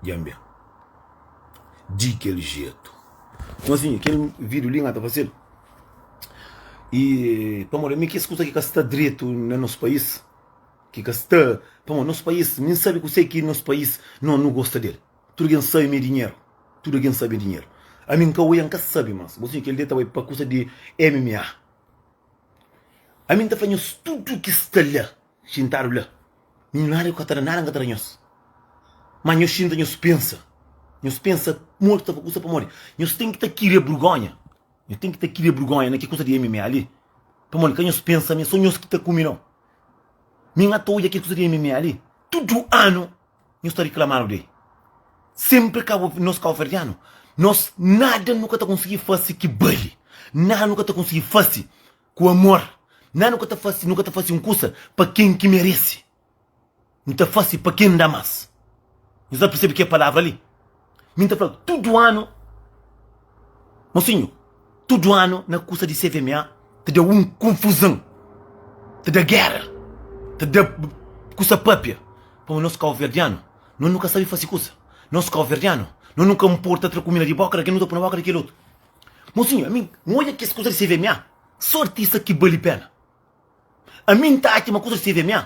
Dja-m ben di kel jetu. Nton asin, kel vídiu li N ka ta faze-l. I pamodi ami, kes kuza ki ka sta dretu na nos país, ki ka sta. Pamodi nos país, mi N sabe kuse ki nos país nau nu gosta di el. Tudu algen sabe mi é dinheru. Tudu algen sabe mi é dinheru. Ami N ka oia, N ka sabe más. Bo siña, kel dia ta bai pa kuza di MMA. Ami N ta fla nhos tudu ki sta la. Xintadu la, milionáriu ka ta da nada, N ka ta da nhos. Má nhos xinta, nhos pensa, nhos pensa modi ta kusa. Pamodi nhos ten ki ta kria burgónha, nhos ten ki ta kria burgónha na ki kusa di MMA li? Pamodi ka nhos pensa ma é sô nhos ki ta kume nau? Mi N ta odja kel kusa di MMA li, tudu anu nhos ta riklamadu di el. Sénpri ka bu, nos kabuverdianu, nos nada nu ka ta konsigi fase ki bali, nada nu ka ta konsigi fase. ku amor. Na nu ka ta fase, nu ka ta fase un kusa pa ken ki merese. Nu ta fase pa ken da mas. Nu sa persebe kel palavra li? Mi N ta fla tudu anu, mosinhu, tudu anu na kusa di CVMA ta da un konfuzon, ta da gera, ta da kusa papia. Pamodi nos kauverdianu, nos nu ka sabe fase kusa. Nos kauverdianu, nos nu ka nporta tra kumida di boka di kel, nos nu ta pui na boka di kel otu. Mosinhu ami n odja kes kuza di CVMA so artista ki bali pena ami n ta atxa ma kuza di CVMA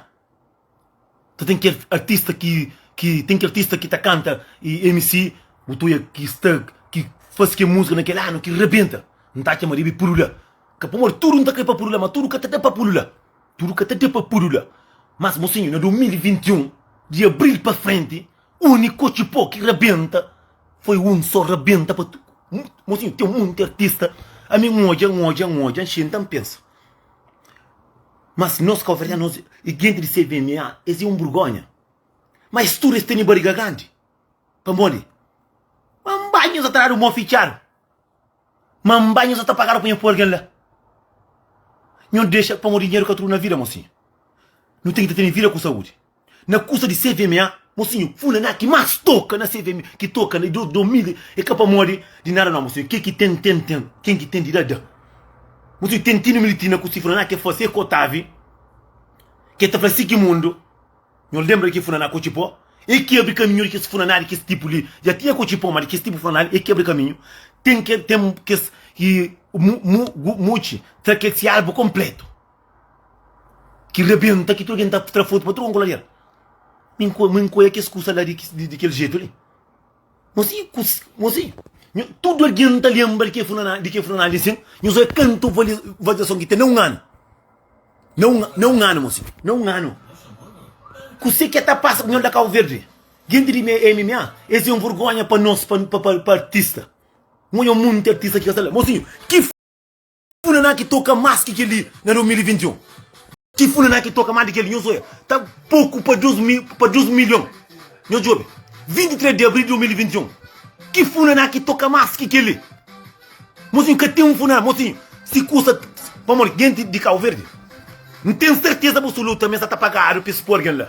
ta ten kel artista ki ki ten ki artista ki ta kanta y mc butuia ki sta ki fase kel musika na kel anu ki rabenta n ta atxa ma debe pulula ka pamodi tudu n ta kre pa pulula ma tudu ka ta da pa pulula tudu ka ta da pa pulula mas mosinhu na 2021 di abril pa frenti Uniku otxi po ki rabenta foi un so rabenta pa tudu mosinhu ten monti artista ami n odja n odja n odja n xinta n pensa mas nos kabuverdianu nos e genti di CVMA es é un burgonha ma es tudu es tene bariga grandi pamodi ma n bai nhos atrás di un bon fitxadu. Ma n bai nhos ata pagadu pa nha pui algen la nhos dexa pamodi dinheru ka tudu na vida mosinhu nu ten ki ta tene vida ku saudi na kusa di CVMA mosinhu funa na ki mas toka na CVMA ki toka na dos dos mil e ka pamodi di nada no mosinhu ke ki ten ten ten ken ki ten di da da mosinhu ten tine militri na ku si funa na ke fase kotave ke ta fla si ki mundu Nho lenbra ki funaná ku txipó e ki abri kaminhu di kes funaná di kes tipu li. Dja tinha ku txipó, má di kes tipu funaná li e ki abri kaminhu. Ten ke, ten kes ki mu, mu, gu, mutxi, tra kes ki albu konpletu, ki rebenta, ki tudu algen ta tra fotu pa tudu kon kolader. Mi, mi nkoia kes kusa la di, di kel jetu li. Nhos sai ku nhos sai tudu algen ta lenbra di ke fulana di ke fulanali asin nhos obi kantu vali valizason ki ten na un anu na un na un anu mosi na un anu kuse ke ta pasa ku nhos la kauverdi jinti di MMA es é un vergonha pa nos pa pa pa artista n oja monti artista ki ka sta la mosinho ki. Fulana ki toka mas ki kel-li na 2021. Ki fulana ki toka mas di kel-li? Nhos oja, ta poku pa dus mil, pa dus milhon. Nhos djobe, 23 di abril di 2021. Ki fulana ki toka mas ki kel-li? Mosinhu, ka ten un fulana. Mosinhu, si kusa. Pamodi, genti di Kabuverdi, N ten serteza abusuluta ma es sa ta pagadu pa es poi algen la.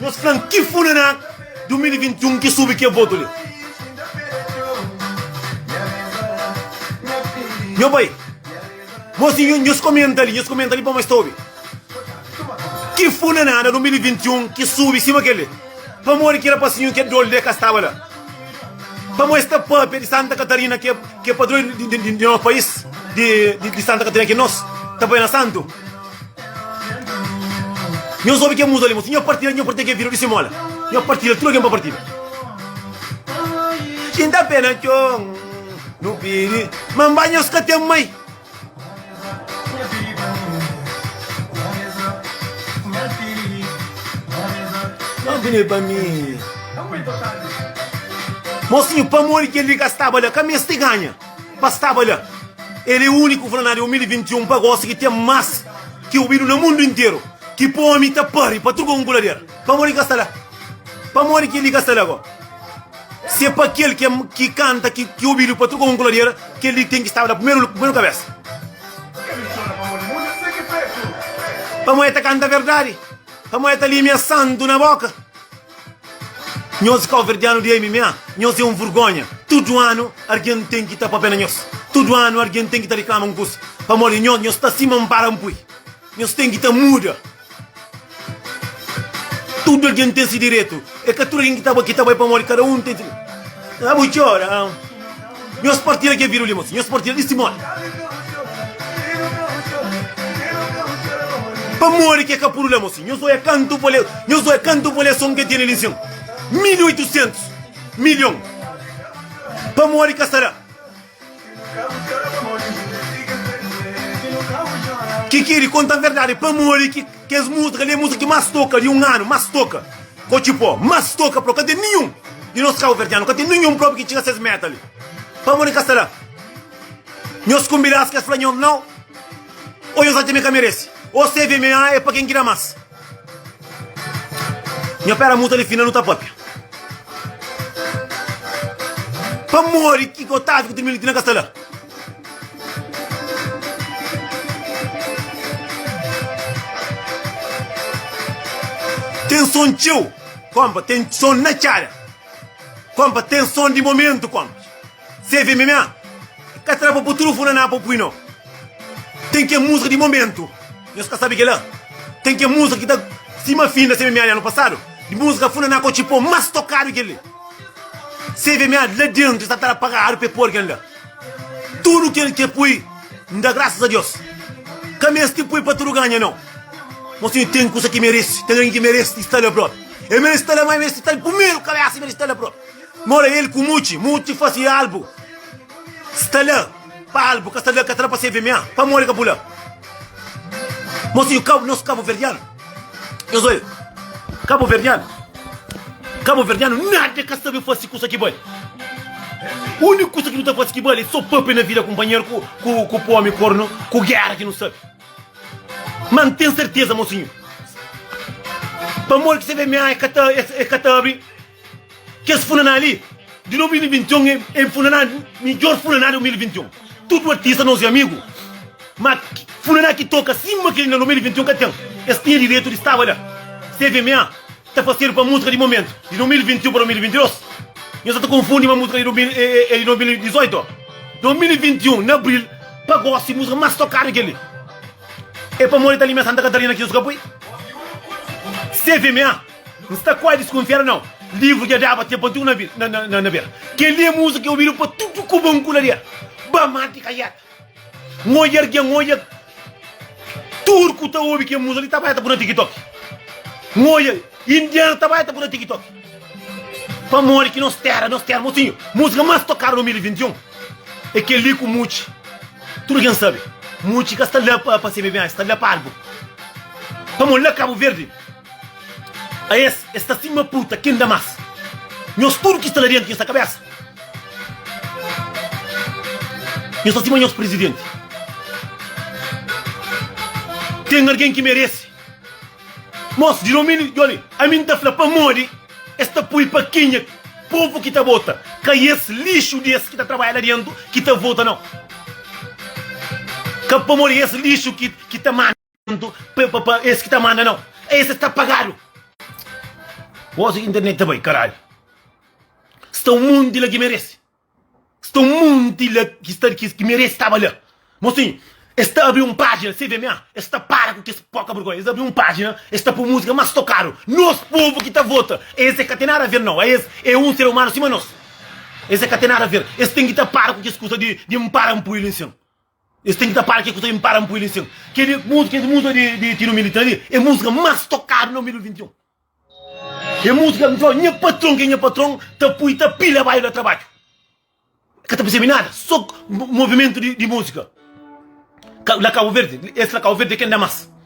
Nos flan ki funená 2021 ki subi ke votu li. Nho bai Mos di nhos komenta li nhos komenta li pa mos ta obi ki funená na 2021 ki subi sima kel li pamodi ki rapasinhu ke dol de ka staba la pamo es ta papia di Santa Catarina ke ke padroi di nos pais di Santa Catarina ki nos ta bai na santu. Nhos obi kel muza li mo si nha partida nha partida ke vira disi mola nha partida tudu algen pa partida jinta pe na txon nu pidi manba nhos ka ten mai Não vini pa mi Mosinhu pamodi kel li ka staba la ka meste ganha pa staba la. El é úniku, fla na 2021 pa gosi, ki ten más ki obidu na mundu interu, ki pa ómi ta pari pa truka un kulader. Pamodi ki ka sta la? Pamodi ki li ka sta la gó? Si é pa kel ki kanta ki obidu pa truka un kulader, kel li ten ki staba la primeru kabésa. Pamodi el ta kanta verdadi? Pamodi el ta lime asantu na bóka? Nhos káuverdianu di MMA, nhos é un vurgónha. Tudu anu argen ten ki ta pâpia na nhos. Tudu anu argen ten ki ta reklama un kusa. Pamodi di nhos, nhos sta sima un baranpui. Nhos ten ki ta muda. Tudu argen ten si diretu. É ka tudu argen ki ta bai pamodi kada un ten si diretu. Nha bu txora. Nhos partilha kel video li mosi. Nhos partilha di stimoni. Pamodi ke ka pudu la mosi. Nhos oia kantu pole, nhos oia kantu poleson ke tene li sin. 1800 milhon. Pamodi ka sara. Ki kiri konta verdadi pamodi ki Kes música kali é música ki más toka di un anu más toka kotxi pó más toka pro ka ten ninhun di nos kauverdianu ka ten ninhun propi ki txiga ses meta li pamo di ka sta la nhos kumbidas kes fla nhos nau o nhos atxa mi ka meresi o cvma é pa ken ki da más nho pera muta li fina nu ta papia pamodi ki otávio ku trmilitna ka sta la. Ten son txeu, konpa, ten son na txada, konpa, ten son di momentu, konpa. Seve MMA, ka tra pa bu trufu na na pa pui no. Ten ken musika di momentu, nhos ka sabi kela. Ten ken musika ki ta sima fin da seve MMA di anu pasadu, di musika funa na ka otxi po mas tokadu keli. Seve MMA la dentu e sa ta pagadu pa e pô algen la. Tudu kel ke pui N da grasas a Deus Ka meste pui pa tudu ganha nau Mo sinhu ten kusa ki merese Ten algen ki merese di sta la propi El merese sta la mai merese sta la pumeru Kabesa merese sta la propi Mo la el ku muti Muti fasi albu Sta la pa albu Ka sta la ka ta la pa se vemea Pamodi ka bu la Mo sinhu Kabu nos kabuverdianu. Nhos oiu, kabuverdianu, kabuverdianu nada ka sabe fase kusa ki bali. Uniku kusa ki nu ta fase ki bali, so pape na vida kunpanheru ku ku ku pome kornu ku gera ki nu sabe. Ma N ten serteza, mo sinhu, pamodi ki se VMA e ka ta e ka ta abri. Kes funaná li di 2021 é é funaná midjór funaná di 2021. Tudu artista nos é amigu, má funaná ki toka sima kel-li na 2021 ka ten. Es tinha direitu di staba la. CVMA ta fasedu pa músika di momentu, di 2021 pa 2022. Nhos sa ta konfundi ma músika di é é di 2018. 2021 na abril pa gósi músika más tokadu é kel-li. É pamodi ta linha Santa Katarina ki nhos ka poi? CVMA. N sta kuazi diskunfiadu nau livru dja daba ten pa tudu na bera. Kel-li é múzika ki é obidu pa tudu ku ba nkuladeru, ba mati kajada. N odja algen, N odja tudu ku ta obi kel múzika li ta bai ta bu na TikTok. N odja indianu ta bai ta bu na TikTok. Pamodi ki nos tera, nos tera, mosinhu, múzika más tokadu na 2021 é kel-li ku Mutxi. Tudu algen sabe, Mutxi ka sta la pa CBMA, el sta la pa albu. Pamodi la Kabuverdi. A es, es ta sima pruta ki inda mas. Nhos tudu ki sta la dentu, nhos ta kabesa. Nhos ta sima nhos prizidenti. Ten algen ki meresi mos di dominiu? Djoli, ami N ta fla, pamodi es ta pui pakinha povu ki ta bota, ka es lixu di es ki ta trabadja la dentu ki ta vota, nau. Ka pamodi es lixu ki ta manda. Pronto pa pa pa es ki ta manda nau es es ta pagadu gosi internet ta bai karalhu sta um monti la ki merece sta um monti la ki sta ki ki merece staba la mo sim es ta abri um pagina CVMA es ta para ku kes poca bergonha es abri um pagina es ta pui musica mas tocadu nos povo ki ta vota es é ka tem nada a ver nau a es é um ser humano sima nos es é ka tem nada a ver es tem ki ta para ku kes kusa di di um para um pui li sim. Es ten ki ta para ke ku ta impara npui li sin ke di musa ke di musa di tino milita li e musika mas tokadu na milu di vinti un e musika mi fla nha patron ke nha patron ta pui ta pila bai la trabadju ka ta persebi nada so movimentu di musika ka la kabo verde es la kabo verde e ken da mas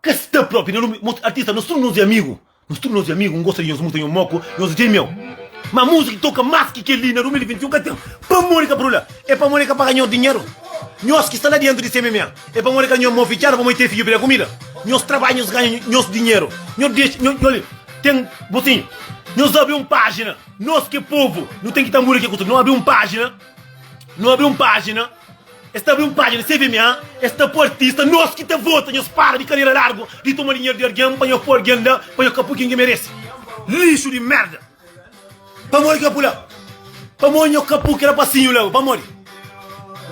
Ka sta propi na nome mos artista nos tudu nos e amigu nos tudu nos e amigu n'gosta di nhos muta nho moko nhos dje meu ma musica ki toka mas ki kel li na 2021 ka ten pamodi ka brula e pamodi ka paga nhos dinheru nhos ki sta la dentu di cmma e pamodi ka nho mô fitxadu pamodi ten fidju pede kumida nhos trabadja nhos ganha nhos dinheru nho dexa nho nholi ten botinhu nhos abri un pajina nos ki povu nu ten ki ta muri ke ku tudu nu abri un pajina nu abri un pajina. Es ta abri un pájina se vê mi ha es ta pô artista nos ki ta vota nhos para di karera largu di toma dinheru di argen pa nhos pô argen la pa nhos ka pô ken ki merece lixo di merda pamodi ka pô la pamodi nhos ka pô kel rapasinho la pamodi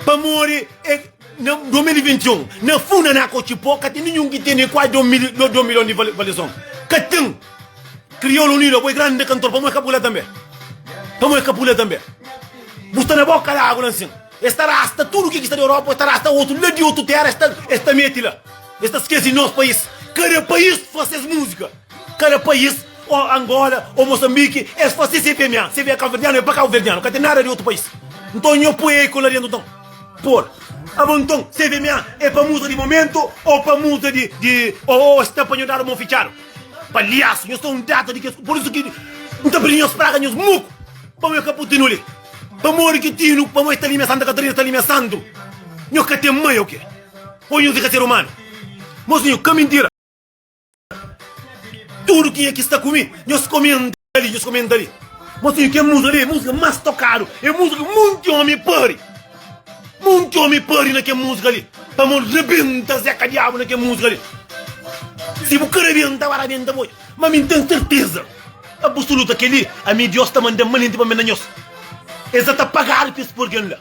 pamodi e na 2021 na funda na ka otxi pô ka ten ninhun ki ten nem kuazi 2 milhon di valiason ka ten. Criolo unido apo é grande cantor pamo é capule tambe pamo é capule tambe bu sta na boca lago la nsin es ta rasta tudo ki ki sta na Europa es ta rasta otu la di otu terra es ta es ta meti la es ta skesi nos pais cada pais faz ses musica cada pais o Angola o Moçambique es faz ses CPMA CPMA cabo-verdiano é pa cabo-verdiano ka tem nada di otu pais nton nho poi eko la dentro nton por abo nton CPMA é pa musa di momento o pa musa di di o es ta pa nho dado mon fitchado. Palhaço, nhos tá um data de que por isso que não tá pedindo nhos praga nhos muco. Pão é caputino ali. Pamor que tino, pamor está ali minha Santa Catarina, está ali minha santo. Nhos que tem mãe o quê? Ou nhos é ser humano? Mozinho, que mentira. Tudo que é que está comigo, nhos comem li nhos komenta li. Mosinho kel música li é música más tokadu é música ki monti omi pâri monti omi pâri na kel música li pamodi rabenta zeca diabu na kel música li si bu ka rabenta ba rabenta bo odja ma mi n'ten serteza abusuluta kel li ami diós ta manda manenti pa mi na nhos es dja ta pagadu pa es purgen la.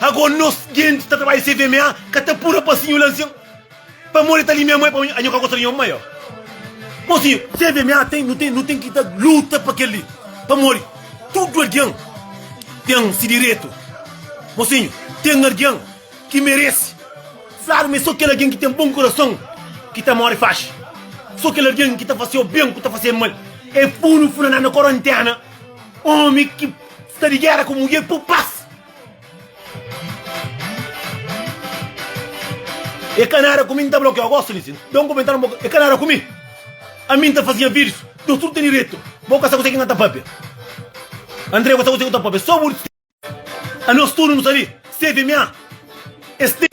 Ago nos genti ta trabalha se vma ka ta pura pa sinho la nsin pamodi ta li nha mãe pamodi anho ka gosta di nho mãe bom sinho se vma tem nu tem nu tem ki ta luta pa kel li pamodi tudo alguém tem si direto bom sinho tem alguém ki merece claro me so kel alguém ki tem bom coração ki ta more faxi so kel alguém ki ta faciô bem ku ta faciê mal e punu funa na na coronténa omi ki sta di guerra ku muger pu pas. E ka nada ku mi, N ta blokiau gosi li si da un kumentáriu ma bo ka. E ka nada ku mi, ami N ta fasiña vídius, dôs tudu ta diretu, bo ka sa kuzê ki N ta pâpia. André, bo sa kuzê ki bu ta pâpia, sô bu distraiu. Anos tudu nu sta li, CVMA é sta.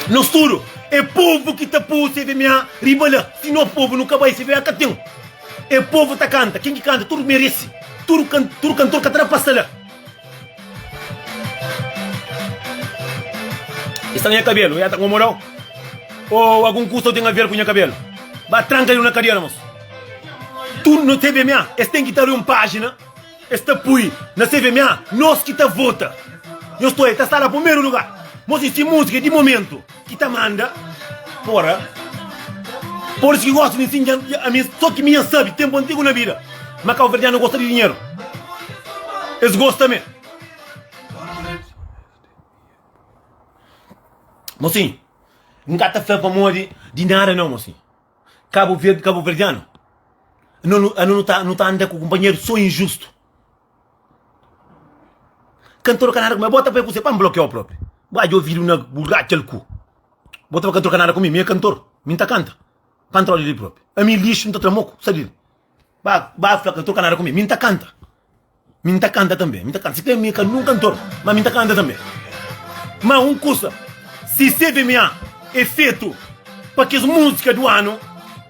Nos tudu, é povu ki ta pô CVMA riba la, si no povu nu ka bai CVMA ka ten. É povu ta kanta, ken ki kanta tudu merese, tudu kantor ka ta na pasa la. I sta na nha kabelu, nha ta nkomodau? O algun kusa u ten aver ku nha kabelu? Ba tranka el na kadera mos. Tu no CVMA es ten ki ta abri un pajina es ta pui na CVMA nos ki ta vota. Nhos sta la primeru lugar. Mos i si musika di momentu. Ki ta manda fora Polis ki gosta di nsinja ami so ki mi nha sabi tempu antigu na bida ma kauverdianu gosta di dinheru es gosta me mosin nka ta fla pamodi di nada nau mosin kabuverdianu anu nu ta anu ta anda ku kunpanheru so injustu. Ka n troka nada ku mi, ma bo ta bai kuzê pa N blokiau propi? Bo odja ovidu na bu ratxal ku? Bo ta fla ka troka nada ku mi, mi é kantor, mi ta kanta pa N tra odi li propi? Ami lixu, N ta tra moku, sa di li. Ba ba fla ka troka nada ku mi, mi N ta kanta, mi N ta kanta tanbe, mi ta kanta, si ten mi ka un kantor, ma mi N ta kanta tanbe. Ma un kusa, si CVMA é fetu pa kes múzika di un anu,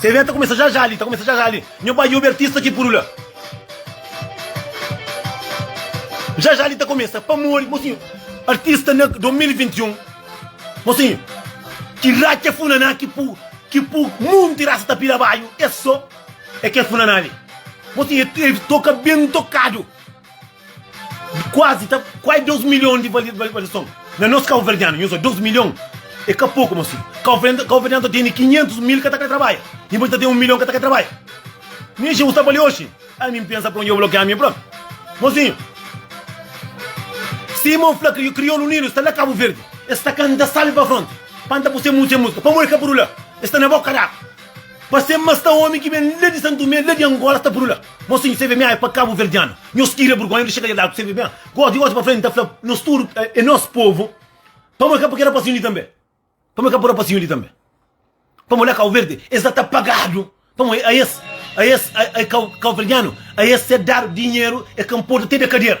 Severa ta kumesa já já li, ta kumesa já já li. Nho bai obi artista ki puru la. Já já li ta kumesa pamodi mosinho artista na 2021 mosinho ki racha funaná ki pu ki pu monti rasa ta pira baiu é só é kel funaná li. Mosinho é toka ben tokadu. Kuazi ta kuai 2 milhon di validason. Na nos kauverdianu, nhos oja 2 milhon é ka poku, môs fidju. Kauverdianu ta tene 500 mil ka ta krê trabadja, dipôs el ta ten 1 milhon ka ta krê trabadja. Mi Jeus ta bali oji, ami N pensa pró, N djobe lokê ami pró. Mozinhu, sima N fla kri, Kriolu Unidu sta la Kabu Verdi, es ta kanta Salve pa Fronte, panta bu se mun, se múzika, pamodi ka puru la? Es sta na boka d'agu. Pase ma sta omi ki ben la di Santu Tomé, la di Angola sta puru la. Nos ten CVMA é pa kabuverdianu. Nhos tira burgonha di xegadja d'arku CVMA. Gosi, gosi pa frenti ta fla nos tudu é nos povu. Pamo é ka pa keda pasinhu li tanbe. Pamo é ka pa da pasinhu li tanbe. Pamo la Kau Verdi es la ta pagadu. Pamo a es, a es, a es kauverdianu a es ser dadu dinheru é ka nporta te da kadera.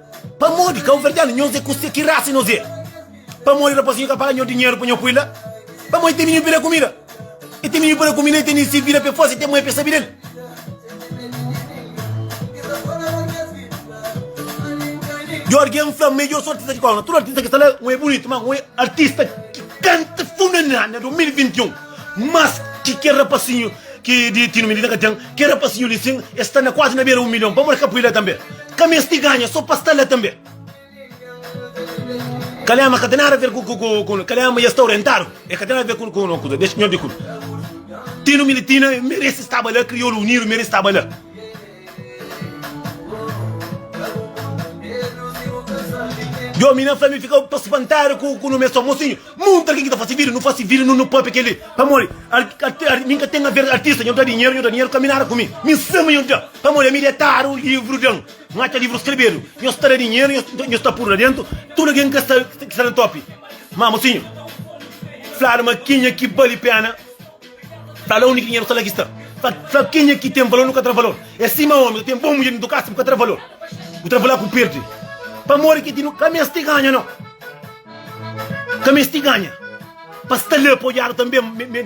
Pamodi kauverdianu nhos é kuste ki rasa nhos é pamodi rapazinhu ka paga nho dinheru pa nho pui la pamodi tem miniu peda kumida e tem miniu peda kumida e tem isi vida pe fasi tem mai pe sabi del jorge é nfla mejor sou artista de kau na tudo artista ki sta la un é bunitu ma un é artista ki kanta funanana 2021 Mas ki kel rapasinhu ki di tinu midida ka ten, kel rapasinhu li sin e sta na kuazi na bera un milhon, pamodi el ka pui la tanbe? Ka mesti ganha so pa sta la tanbe? Kalema ka ten nada ver ku kalema e sta orientadu e ka ten nada ver ku un kuza dexi nho di ku tinu militina meresi staba la kriolu unidu meresi staba la. Yo mi na fla mi fika pa spantadu ku ku nu mes somo sinho munta algin ki ta fasi video nu fasi video nu nu papia keli pamodi min ka ten a ver artista nho ta dinheru nho ta dinheru ka mi nada ku mi mi sami nho ta pamodi ami detadu livru den nho atxa livru skrebedu nho sta da dinheru nho sta puru la dentu tudu algin ki sta na topi mama sinho fladu ma kenha ki bali pena. Fla la, Undi ki dinheru ta la ki sta? Fla kenha ki ten valor nu ka tra valor. É sima omi ta ten bon mudjer dentu kasa bu ka tra valor. Bu tra valor ku pirdi. Pamodi ki ti nu ka meste ganha no? Ka meste ganha. Pa sta la pa odiadu tanbe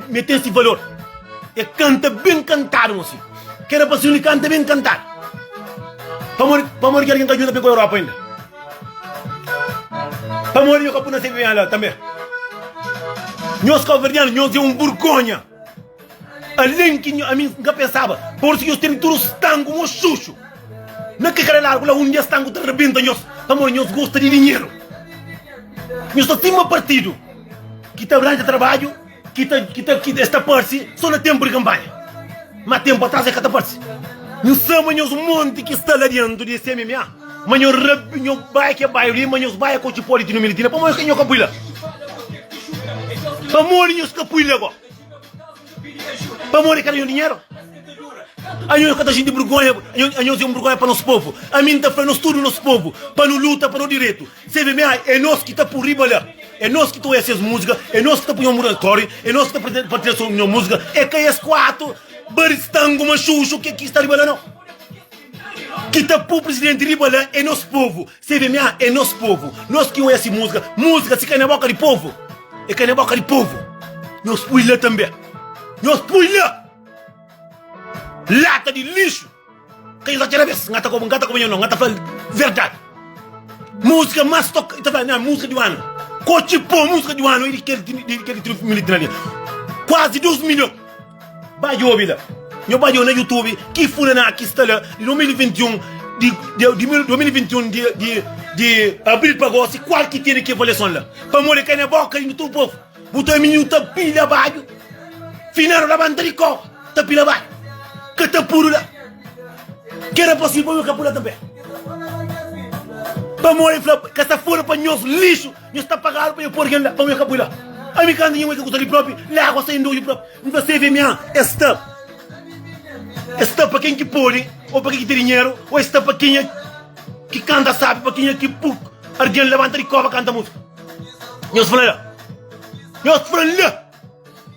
me ten si valor. E kanta ben kantadu mon si. Kera pa si un di kanta ben kantadu. Pamodi ki algin ka djuda pa e ku Europa inda. Pamodi nho ka puna se vinha la tanbe? Nhos kabuverdianu nhos é un burgonha alen ki nho ami nka pensaba porsu nhos tene tudu stangu moxuxu na ke kada largu la un dia stangu ta rabenta nhos pamodi nhos gosta di dinheru nhos ta stima partidu ki ta ranja tarbadju Ki ta ki ta ki es ta parse so na tempu di kanpanha ma tempu atrás e ka ta parse nhu sa ma nhos monti ki sta la dentu di CMMA ma nho rabi nho bai ke bairu li ma nhos bai ko txi po di tinumili tina pamo nho ka pui la pamo di nhos ka pui la bo pamo di kada nho dinheru a nho ka ta xinti burgonha a nhos e un burgonha pa nos povu ami nta fla nos tudu nos povu pa nu luta pa no diretu CVMA é nós ki ta pô riba la É nós ki ta oia ses múzika É nós ki ta punhô muda stória É nós ki ta prende pa três nhô múzika É ka es kuatu baristangu maxuxu ki ki sta riba la nau Ki ta pô prisidenti riba la É nós povu CVMA é nós povu Nós ki oia si múzika Múzika si ka na boka di povu É ka na boka di povu Nós pui la tanbe Nós pui la Lata di lixu Ka inzati rabes, nga ta koba, nga ta koba nha no, nga ta fla-l verdadi. Músika más toka, i ta fla, nha músika di un anu. Kotxi pô, músika di un anu, i di kel di di kel di militi na li. Kuazi dus milhon. Ba djobe la, nho ba djobe na Youtube, ki Funaná ki sta la di 2021, di di di mil 2021 di di di abril pa gósi, kual ki tene ki avaliason la? Pamodi ka na boka di tudu povu. Bu ta mi nu ta pilha badju Fina nu labanta di kó ta pilha badju Ka ta pudu la Ki éra posível pa nu ka pula tanbê Pamodi el fla ka sta fóra pa nhos lixu Nhos ta pagadu pa nha pô algen la pamodi nha ka pui la Ami kantu nha mai ka kusa li própi la agu sta inda odju própi N fla sevi ami an es sta Es sta pa ken ki pode ô pa ken ki ten dinheru ô es sta pa kenha ki kanta sábi pa kenha ki pu algen labanta di kóva kanta músika. Nhos fala la. Nhos fala la.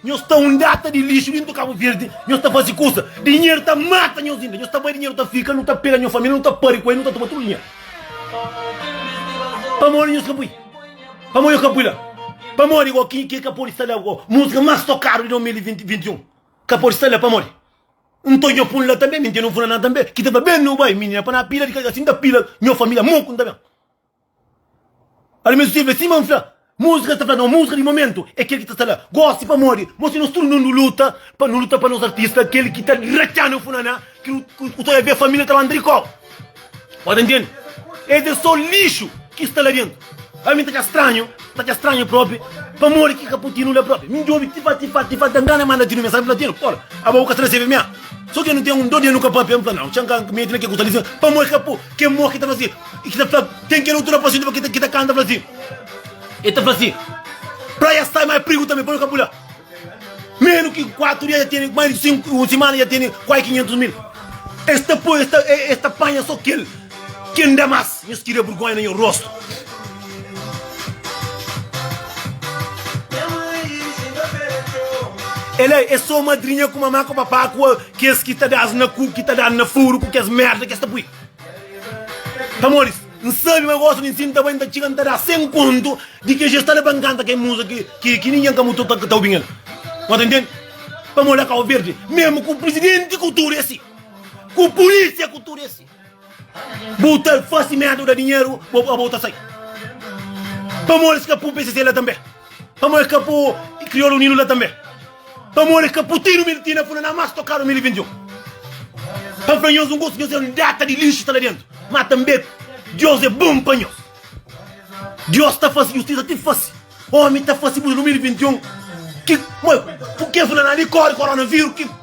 Nhos ta un data di lixo dentro Cabo Verde. Nhos ta fazer coisa. Dinheiro ta mata nhos ainda. Nhos ta vai dinheiro ta fica. Não ta pega nhos família. Não ta pare com ele. Não ta toma tudo dinheiro. Pamodi nhos capui. Pamodi eu capui lá. Pamodi igual quem que capou está lá. Música mais tocada de 2021. Capou está lá. Pamodi. Então eu fui lá também. Mentira não fui lá também. Que tava bem no bairro. Menina para na pila de casa. Assim da pila. Minha família. Monco também. Almesutiempu é sima N fla Múzika sta fla nos múzika di momentu é kel ki ta sta la gósi pamodi mostra nos tudu mundu luta pa nu luta pa nos artista kel ki ta ratxa-nu é funa-na ki nu ku ta bebê família ta lanta di kópu bo ta ntende es é sô lixu ki sta la dentu a mi ta atxa stranhu ta atxa stranhu própi pamodi ki ka poti nu la própi mi djobi tifa tifa tifa ta ngana manda tinu mia sabe fla tinu ora abo bu ka sta na sebe mia sô tenu ten un dó di el nu ka pâpia N fla nau txeu N ka mete na ke ku sta li pamodi ka po ki é mô ki ta faze. I ki ta fla, Ken ki é doutor Apaxonadu pa ki ta kanta fla si, E ta fla si, Praia sta mai prigu tanbe, pa nu ka pula. Menus ki kuatu dia ja tene, mais di sinku, un simana ja tene kuai kinhentus mil. E sta poi, e sta, e sta panha so kel ki nda mas. Nhos skirria burgonha na nho rostu. E la e so madrinha ku mamá ku papá ku kes ki ta da-s na ku, ki ta da-n na furu ku kes merda ki e sta pui. Amoris, n sabe ma gosi di nsin ta bai n ta txiga n ta da sen kontu di kes jesta la pa n kanta kel muza ki ki ningen ka mu toka ki ta obi-m el no ta ntende pa mo la kau verdi mesmu ku prisidenti ku tudu esi ku pulisia ku tudu esi bu ta fasi medu da dinheru bo bo ta sai pa amoris ka pun pcc la tanbe. Pamo e ka po Criolo Unido la tambe. Pamo e ka po Tino Milti na funa na mas tokado 2021. Pa fla nhos un gosi nhos e un data di lixo ta la dentro. Ma tambe Dios e bom pa nhos. Dios ta fasi justisa ti fasi. Omi ta fasi buda 2021 ki, moi, puk'e fla na li kori coronavirus ki.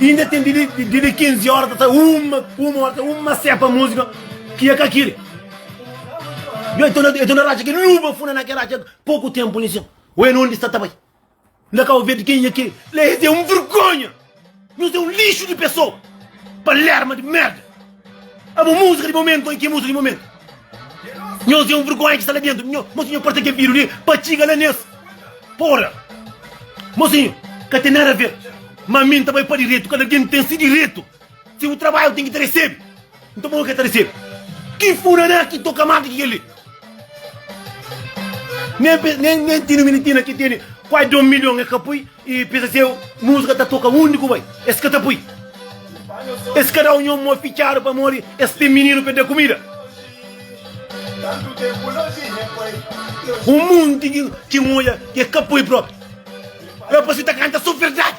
Inda ten di di di 15 horas ta uma uma hora ta uma sepa música que é ka kiri. Eu estou na eu estou na racha que luba funa na que racha pouco tempo nisso. Ou é onde está também. Ainda cá ouvir de quem é que lê é um vergonha. Não é um lixo de pessoa. Palerma de merda. A bo música di momento oi ki música di momento? Nhos é um vergonha ki sta la dentro. Mosinho parse ke viru li pa txiga la nes. Porra. Mosinho, ka tem nada a ver. Mamin ta bai pa direto, kada algem tem si direto. Se u trabalha u tem ki ta resebe. Nton bo ke ta resebe. Ki funana ki toka mata ki keli. Nem, nem, nem tinha menino tinha que tinha quase 2 milhões é capui e pensa se música tá toca onde que vai esse que tá pui esse cada um mó fichado para morrer esse tem menino para dar comida um mundo que que olha que é capui próprio é para você tá canta só verdade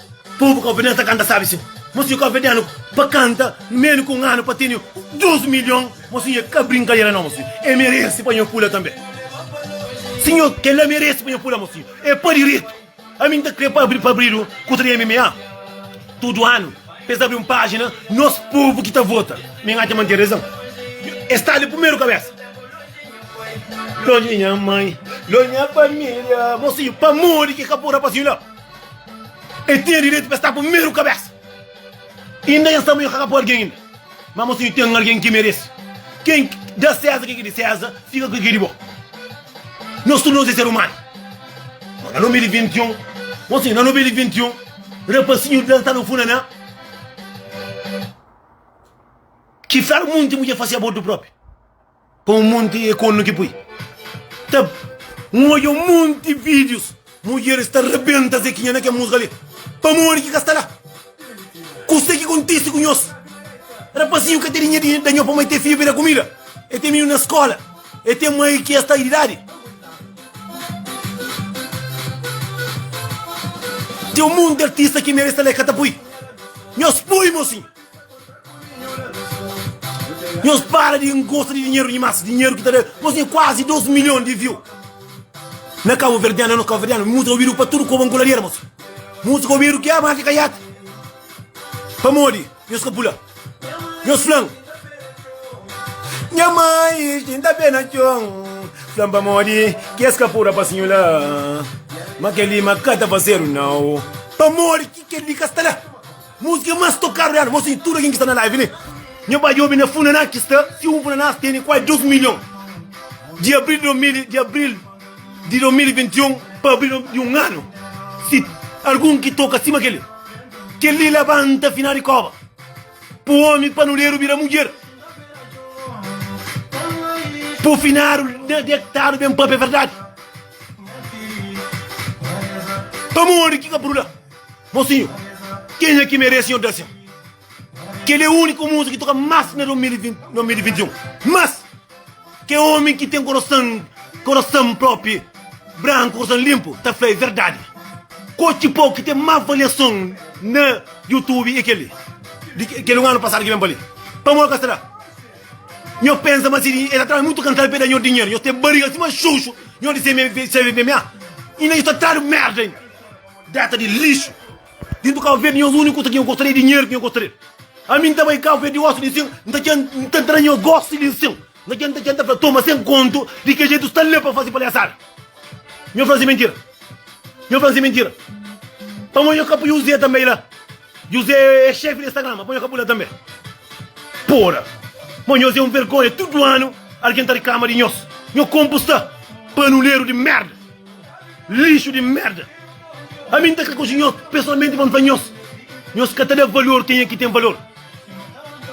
Povu Kovenianu ta kanta sabi sin, Mo si Kovenianu pa kanta menu ku un anu pa tene dus milhon, mo si nha ka brinkadera no, mo si e meresi pa nho pula tanbe. Si nho ke la meresi pa nho pula, mo si e pa diretu. Ami nta kre pa abri pa abridu ku tra MMA. Tudu anu pa es abri un pajina nos povu ki ta vota. Mi n'atxa ma n'ten rezon. E sta li primeru kabesa. Lonji di nha mai, lonji di nha familia, mo si pamodi ki ka pun rapazinhu la. E tinha direitu pa es ta primeru kabesa. Inda nhos ta morri kakapu algin inda. Ma mosinhu ten algin ki meresi. Ken da Seza ke ki di Seza, fika ku ke ki di bo. Nhos tudu nhos e ser umanu. Ma na nome di 21, mosinhu na nome di 21, rapasinhu da sta na funa na ki fral munti mudjer fasi abortu propi. Pa un monti é konu ki pui ta N odja un monti vídius mudjeris ta rebenta Zekinha na kel múzika li Pamodi ki ka sta la? Kuzê ki kontise ku nhos? Rapazinhu ka tene nha di da nho pamai tê fia bira kumida e tê minu na skola e tê mai ki es ta idadi Tê un monti artista ki meris ta la e ka ta pui Nhos pui mosinhu! Nhos para di gosta di dinheru dimas, dinheru ki ta da, nhos tem quase 2 milhões de view na Cabo Verdeano, é nos Cabo Verdeano, música obido pa tudo koba angolaria moço, música obido ki ama ka yata, pamodi nhos ka pula, nhos flam, nha mãe tinta pé na chão, flam pamodi ki es ka pura pasinho lá, ma kel li ma ka ta fazedu nao, pamodi ki kel li ka sta lá. Músika más tokadu di anu. Mô sim, tudu algen ki sta na live li, nha ba djobe na Funaná ki sta, si un Funanás tene kuazi 2 milhon di abril di 2000, di abril di 2021 pa abril di un anu, si algun ki toka sima kel-li, kel-li labanta Finau di Kóba, pu ómi panuderu bira mudjer, pu finadu na detadu ben pape verdadi. Pamodi ki ka bruda? Mosinhu, kenha ki merese nha odasia? Kel-li é úniku múzika ki toka más na 2021. Más ki ómi ki ten korason, korason própi branku, korason linpu, ta fla é verdadi. Kotxi pau ki ten más valiason na YouTube é kel-li, di kel un anu pasadu ki ben pa li. Pamodi ka sera? Nho pensa ma si el ta traba mutu kantal pa el da nho dinheru, nho ten bariga sima xuxu, nho di seme, seme, seme, ah? Inda nho ta tradu merda inda. Deta di lixu Di ntu kau vedi nhos úniku kusa ki nhos gosta li é dinheru ki nhos gosta li Ami N ta bai kau vedi osi di nsin N ta txen N ta tra nhos gosi di nsin N ta txen N ta txen N ta fla toma sen kontu Di ki jetu sta li pa fase palhasada Nhos fla nsi mentira Nhos fla nsi mentira Pamodi nhos ka pui Juzé tanbe la Juzé é xefi di Instagram ma pamodi nhos ka pui la tanbe Poda Ma nhos é un vergonha Tudu anu algen ta riklama di nhos Nhos konpu sta Panuleru di merda. Lixu di merda. Ami N ta kre konxi nhos pesoalmenti pa N fla nhos, nhos ka ta da valor kenha ki ten valor.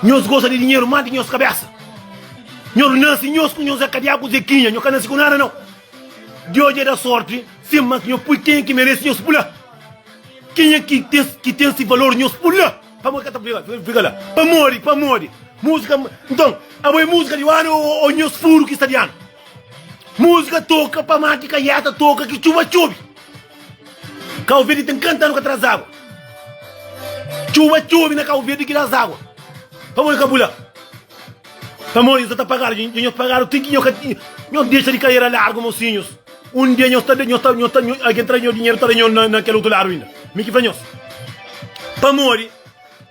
Nhos gosta di dinheru más di ki nhos kabésa. Nhos nase nhos ku nhos é kadiá ku Zekinha, nhos ka nase ku nada nau. Deus dja da sorti sin mas nhos pui kenha ki merese nhos pula. Kenha ki ten ki ten si valor nhos pula. Pamodi ki ka ta fika fika la? Pamodi pamodi musika nton abo é musika di anu ô nhos furu ki sta di anu? Música toca pa mati ka yata toca ki txuba txubi Cabo Verde tem 40 anos ka traz água txuba txubi na Cabo Verde ki traz água pamodi ka bu la pamodi nhos ta pagadu dja nhos pagadu ti ki nhos dexa di carreira largo mosinhos um dia nhos ta nhos ta nhos ta alguém traz nhos dinheiro ta da nhos na na kel otu lado ainda mi ki fla nhos pamodi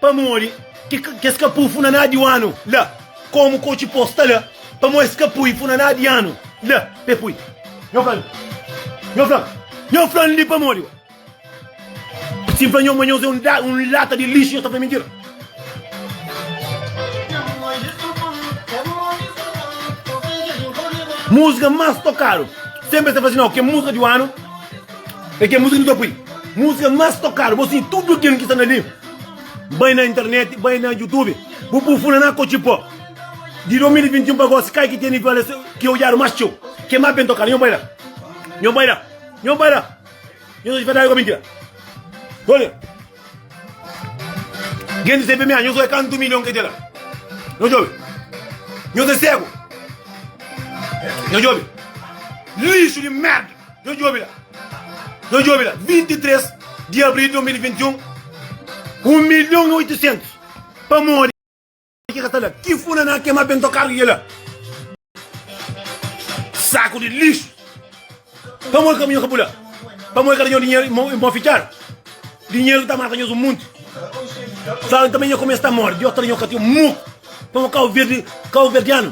Pamodi ki ki es ka pui funaná di oanu la? Komu kotxi pô sta la? Pamodi es ka pui funaná di anu la? Pe pui. Nho fla-l, nho fla-l, nho fla-l li pamodi o si N fla nho ma nhos é un da un lata di lixu, nhos ta fla mintira. Múzika más tokadu senpri es ta fla si nau kel múzika di oanu. É kel músika ki nu ta poi músika más tokadu bo sinti tudu kel ki sta na li bai na internet bai na youtube bu prufunda na kotxi pó di 2021 pa gosi kai ki tene valeson ki odjadu más txeu ke más ben tokadu nho bai la nho bai la nho bai la nho ta dispartadu ku a mintira olha genti se pemia nho soi kantu milhon ke tela nho djobe nho ta segu nho djobe lixu di merda Dja djobe la, dja djobe la, 23 di abril di 2021, un milhon i oitosentus pamodi ki ka ta la, ki funaná kemá bento karga kela saku di lixu, pamodi kaminhon ka bula, pamodi ka da nho dinheru i mon fitxadu, dinheru ki ta mata nhos un monti, sa tanbe nho kumesa ta mori di otra nho ka tinha muku, pamodi kauverdianu.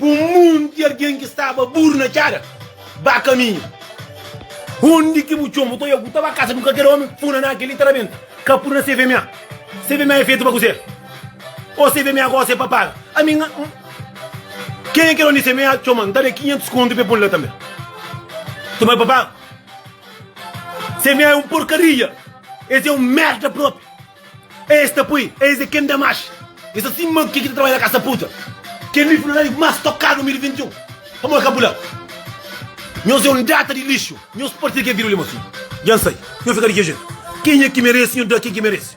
Un monti algen ki staba buru na txada ba kaminhu. Undi ki bu txon, bu ta oja ku ta ba kasa di un kalker omi, funa na kel li ta rabenta. Ka pudi na CVMA. CVMA é fetu pa kuzê? Ô CVMA gosi é pa paga? Ami nha. Kenha ki é donu di CVMA txoma-m, n ta da-l 500 kontu pa el pô-m la tanbê. Txoma el pa paga? CVMA é un porkaria. Es é un merda propi. Es ta poi es é ken da mash es ta si ma ke ki ta trabadja na kas ta puta ken li fla li mas tok kar 2021 pamod ka bu la nhos é un data di lixu nhos parse ke vira li mas dja N sai nhos fika di ke jetu kenha ki merese nhos da ken ki merese.